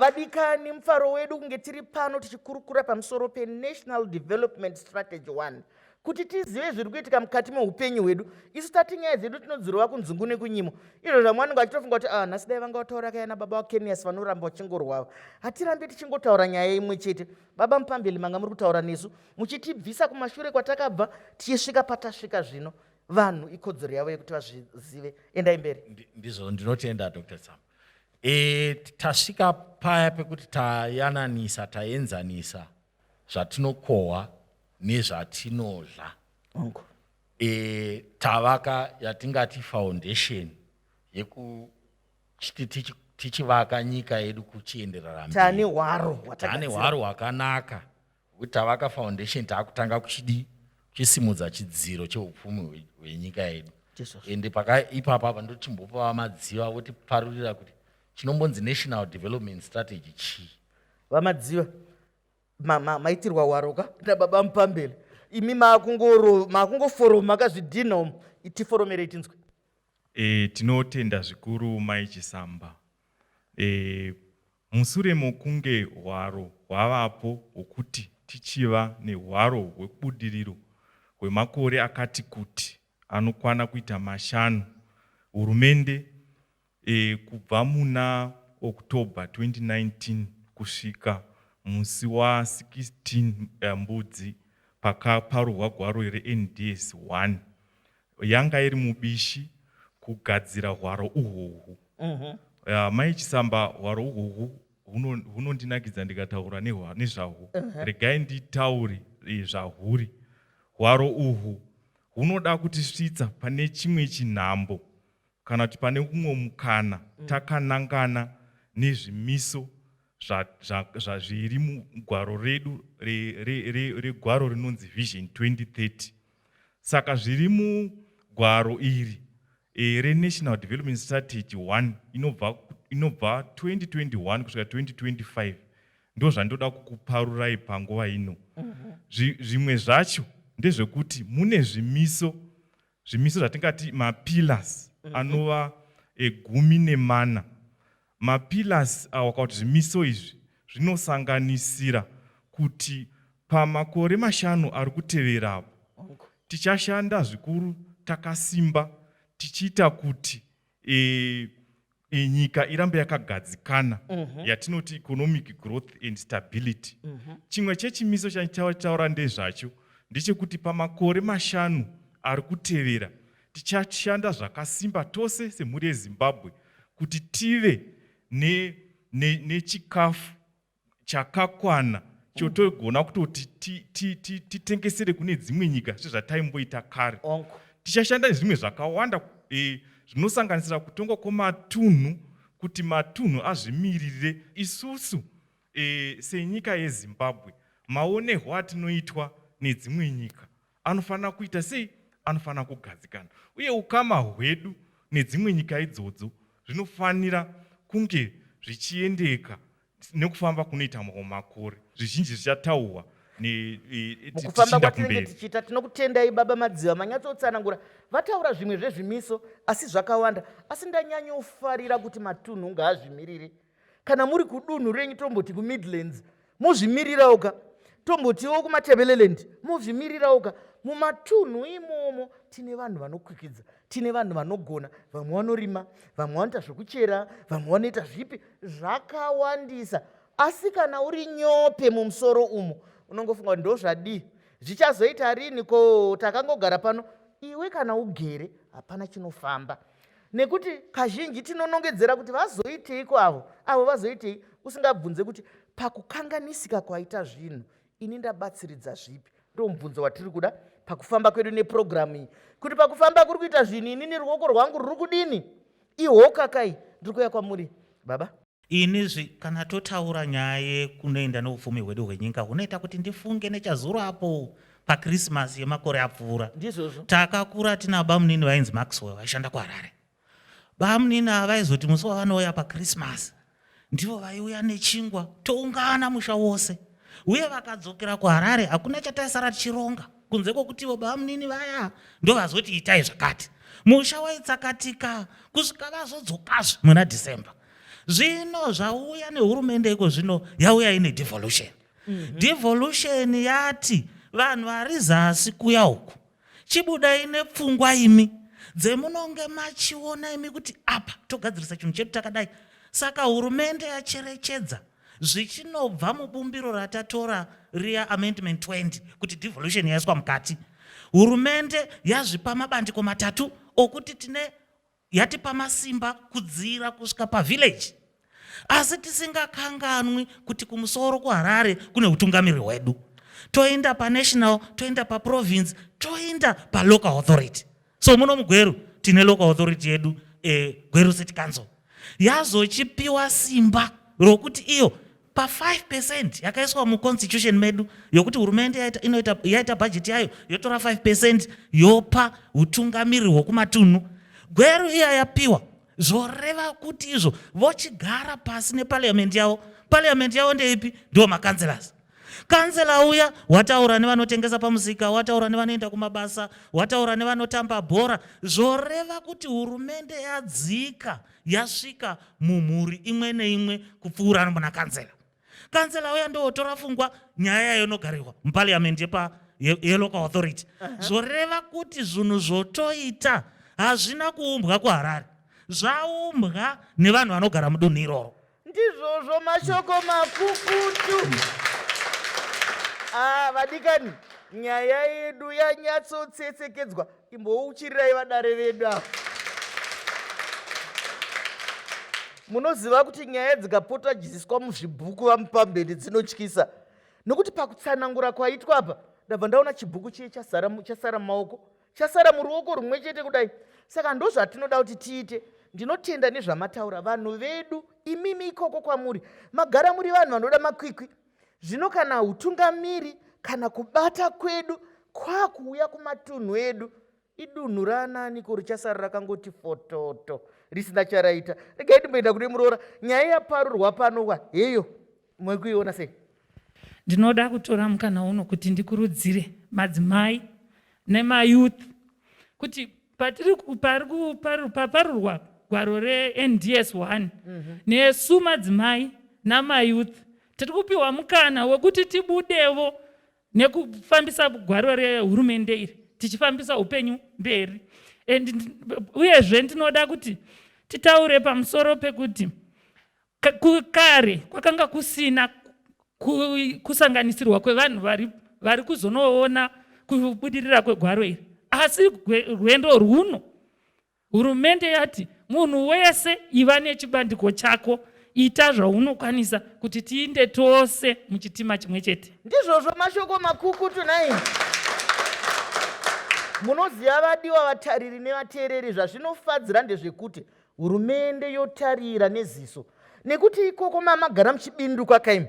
vadikani mufaro wedu kunge tiri pano tichikurukura pamusoro penational development strategy 1 kuti tizive zviri kuitika mukati meupenyu hwedu isu tati nyaya dzedu tinodzirova kunzungu nekunyimo izvo zvamwe vanenge vachitofunga kuti ah, nhasi dai vanga vataura kayana baba vakenias vanoramba vachingorwava hatirambe tichingotaura nyaya imwe chete baba mupambeli manga muri kutaura nesu muchitibvisa kumashure kwatakabva tichisvika patasvika zvino vanhu ikodzero yavo yekuti vazvizive endai mberi ndizvo ndinotenda dr sam e, tasvika paya pekuti tayananisa taenzanisa zvatinokohwa nezvatinodla e, tavaka yatingati foundation yeku tichivaka nyika yedu kuchienderera mberi tane hwaro hwakanaka Ngokuti tavaka foundation takutanga kuchidii kuchisimudza chidziro cheupfumi hwenyika yedu ende pakaipapa apa ndotimbopava madziva votiparurira kuti chinombonzi national development strategy chii vamadziva maitirwa waroka nababa mupambele imi makungoforoma kazvidhina umu tiforomerei tinzwe e, tinotenda zvikuru mai chisamba e, Mushure mokunge hwaro hwavapo hwokuti tichiva nehwaro hwebudiriro hwemakore akati kuti anokwana kuita mashanu, Hurumende, kubva muna October 2019 kusvika musi wa 16 Mbudzi pakaparurwa gwaro reNDS 1, yanga iri mubishi kugadzira hwaro uhwohwu mhm. ah, mai chisamba hwaro uhwohwu hunondinakidza ndikataura nezvahwo mhm. regai nditaure eh, zvahuri hwaro uhwu hunoda kutisvitsa pane chimwe chinhambo kana kuti pane umwe mukana mm. takanangana nezvimiso zviri mugwaro redu regwaro rinonzi vision 2030 saka zviri mugwaro iri e, renational development strategy 1 inobva inobva 2021 kusvika 2025 ndo zvandoda kukuparurai panguva ino mhm. zvimwe zvacho ndezvekuti mune zvimiso Zvimiso zvatingati mapillars mhm. anova egumi nemana. Mapillars awa kana kuti zvimiso izvi zvinosanganisira kuti pamakore mashanu ari kutevera apo tichashanda zvikuru takasimba tichiita kuti e, e, nyika irambe yakagadzikana mm -hmm. yatinoti economic growth and stability mm -hmm. chimwe chechimiso chatichataura ndezvacho ndechekuti pamakore mashanu ari kutevera tichashanda zvakasimba tose semhuri yezimbabwe kuti tive nechikafu ne, ne chakakwana chotogona kutoti titengesere kune dzimwe nyika sezvataimboita kare tichashanda nezvimwe zvakawanda e, zvinosanganisira kutongwa kwematunhu kuti matunhu azvimiririre isusu e, senyika yezimbabwe maonehwo atinoitwa nedzimwe nyika Anofanira kuita sei? Anofanira kugadzikana. Uye ukama hwedu nedzimwe nyika idzodzo zvinofanira kunge zvichiendeka nekufamba kunoita mamwe makore. Zvizhinji zvichataurwa ne- e- e- mukufamba tichienda kwatinenge kumberi. tichiita tinokutendai baba madziva manyatsotsanangura vataura zvimwe zvezvimiso asi zvakawanda asi ndanyanyofarira kuti matunhu ngaazvimirire kana muri kudunhu renyu tomboti kumidlands mozvimirirawo ka tombotiwo kumatebeleland mozvimirirawo ka mumatunhu imomo tine vanhu vanokwikidza tine vanhu vanogona vamwe vanorima vamwe vanoita zvekuchera vamwe vanoita zvipi zvakawandisa asi kana uri nyope mumusoro umo unongofunga kuti ndozvadii zvichazoita rini ko takangogara pano iwe kana ugere hapana chinofamba nekuti kazhinji tinonongedzera kuti vazoiteiko avo avo vazoitei usingabvunze kuti pakukanganisika kwaita zvinhu ini ndabatsiridza zvipi ndo mubvunzo watiri kuda pakufamba kwedu nepurogiramu iyi kuti pakufamba kuri kuita zvinhu inini ruoko rwangu ruri kudini ihokakai ndiri kuya kwamuri baba Inizve kana totaura nyaya yekunoenda neupfumi hwedu hwenyika hunoita kuti ndifunge nechazuro apo pakrisimasi yemakore apfuura takakura tina bamunini vainzi maxwell vaishanda kuharare bamunini ava vaizoti musi wavanouya pakrisimasi ndivo vaiuya nechingwa toungana musha wose uye vakadzokera kuharare hakuna chataisara tichironga kunze kwokutivo babamunini vaya ndovazoti itai zvakati musha waitsakatika kusvika vazodzokazve muna december zvino zvauya nehurumende iko zvino yauya ine devolution mm -hmm. devolution yati vanhu vari zasi kuya uku chibudai nepfungwa imi dzemunonge machiona imi kuti apa togadzirisa chinhu chedu takadai saka hurumende yacherechedza zvichinobva mubumbiro ratatora riya amendment 20 kuti devolution yaiswa mukati hurumende yazvipa mabandiko matatu okuti tine yatipa masimba kudziira kusvika pavillage asi tisingakanganwi kuti kumusoro kuharare kune utungamiri hwedu toenda panational toenda paprovince toenda palocal authority so muno mugweru tine local authority yedu eh, gweru city council yazochipiwa simba rokuti iyo pa 5 percent yakaiswa muconstitution medu yokuti hurumende yaita, inoita, yaita bhajeti yayo yotora 5 percent yopa utungamiri hwokumatunhu gweru iya yapiwa zvoreva kuti izvo vochigara pasi nepariamenti yavo pariamenti yavo ndeipi ndiwo makanselas Kansela uya wataura nevanotengesa pamusika, wataura nevanoenda kumabasa, wataura nevanotamba bhora, zvoreva kuti hurumende yadzika yasvika mumhuri imwe neimwe kupfuura nomuna kansela. Kansela uya ndowotora fungwa nyaya yayo inogarirwa muparliament yepa yelocal authority. Zvoreva kuti zvinhu zvotoita hazvina kuumbwa kuHarare, zvaumbwa nevanhu vanogara mudunhu iroro. Ndizvozvo mashoko makukutu. Ah, vadikani, nyaya yedu yanyatsotsetsekedzwa. Imbouchirirai vadare vedu ava. Munoziva kuti nyaya dzikapota dzichiiswa muzvibhuku vamupamberi dzinotyisa nokuti pakutsanangura kwaitwa apa ndabva ndaona chibhuku chiye chasara mumaoko chasara muruoko rumwe chete kudai saka ndozvatinoda kuti tiite ndinotenda nezvamataura vanhu vedu imimi ikoko kwamuri magara muri vanhu vanoda makwikwi zvino kana utungamiri kana kubata kwedu kwakuuya kumatunhu edu idunhu raanaaniko richasara rakangoti fototo risina charaita regai ndimboenda kune muroora nyaya yaparurwa pano wa heyo Muri kuiona sei? Ndinoda kutora mukana uno kuti ndikurudzire madzimai nemayouth kuti patiri paparurwa gwaro reNDS 1 mhm. nesu madzimai namayouth tiri kupiwa mukana wekuti tibudevo nekufambisa gwaro rehurumende iri tichifambisa upenyu mberi and uyezve ndinoda kuti titaure pamusoro pekuti Kare kwakanga kusina kusanganisirwa kwevanhu vari, vari kuzonoona kubudirira kwegwaro iri, asi rwendo rwuno hurumende yati munhu wese iva nechibandiko chako ita zvaunokwanisa kuti tiinde tose muchitima chimwe chete. Ndizvozvo mashoko makukutu nai munoziva vadiwa vatariri nevateereri zvazvinofadzira ndezvekuti Hurumende yotarira neziso nekuti ikoko mamagara muchibindu kwakaimo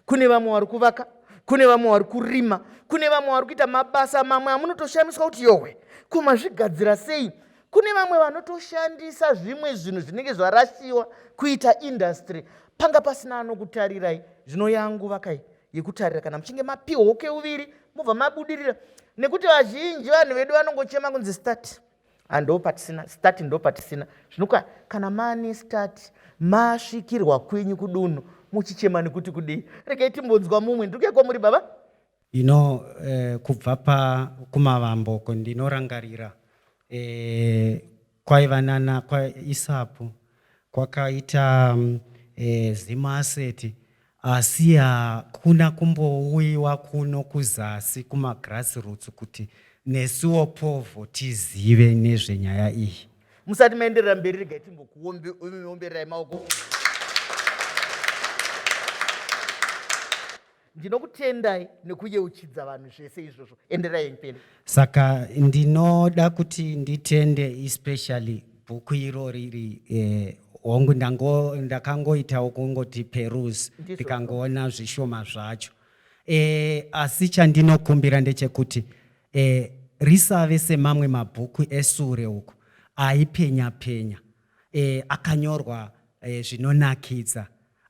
kune vamwe wari kuvaka kune vamwe wari kurima kune vamwe wari kuita mabasa mamwe amunotoshamiswa kuti yohwe kumazvigadzira sei kune vamwe vanotoshandisa zvimwe zvinhu zvinenge zvarasiwa kuita industry panga pasina anokutarirai zvino yangu vakai yekutarira kana muchinge mapiwa uke uviri mobva mabudirira nekuti vazhinji vanhu vedu vanongochema kunzi start ando patisina stati ndo patisina zvinoka kana mani stati masvikirwa kwenyu kudunhu muchichema nekuti kudii regai timbonzwa mumwe ndiri kuya kwamuri baba ino eh, kubva pa kumavambo ko ndinorangarira eh, kwaiva nana kwaisapu kwakaita mm, eh, zimaaseti Asi hakuna kumbouyiwa kuno kuzasi kumagrassroots kuti nesuwo Povo tizive nezvenyaya iyi. Musati maenderera mberi regai timbokuombererai maoko. Ndinokutendai nekuyeuchidza vanhu zvese izvozvo. Enderai mberi. Saka ndinoda kuti nditende especially bhuku iro riri eh, hongu ndango ndakangoitawo kungoti peruse Ndizvo. ndikangoona zvishoma zvacho eh, asi chandinokumbira ndechekuti eh, risave semamwe mabhuku esure uku aipenya penya eh, akanyorwa eh, zvinonakidza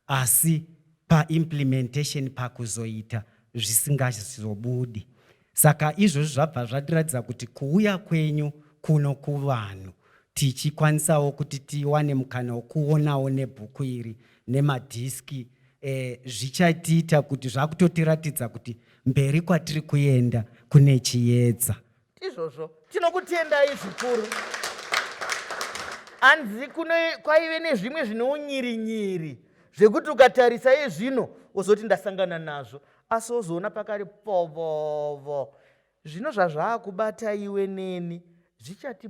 asi pa implementation pakuzoita zvisingazobudi. Saka izvozvi zvabva zvatiratidza kuti kuuya kwenyu kuno kuvanhu tichikwanisawo kuti tiwane mukana wokuonawo nebhuku iri nemadhiski eh, zvichatiita kuti zvakutotiratidza kuti mberi kwatiri kuenda kune chiyedza Izvozvo tinokutendai zvikuru. Hanzi kwaive nezvimwe zvine unyirinyiri zvekuti ukatarisa izvino wozoti ndasangana nazvo asi wozoona pakari povovo zvino zvazvaakubata iwe neni zvichati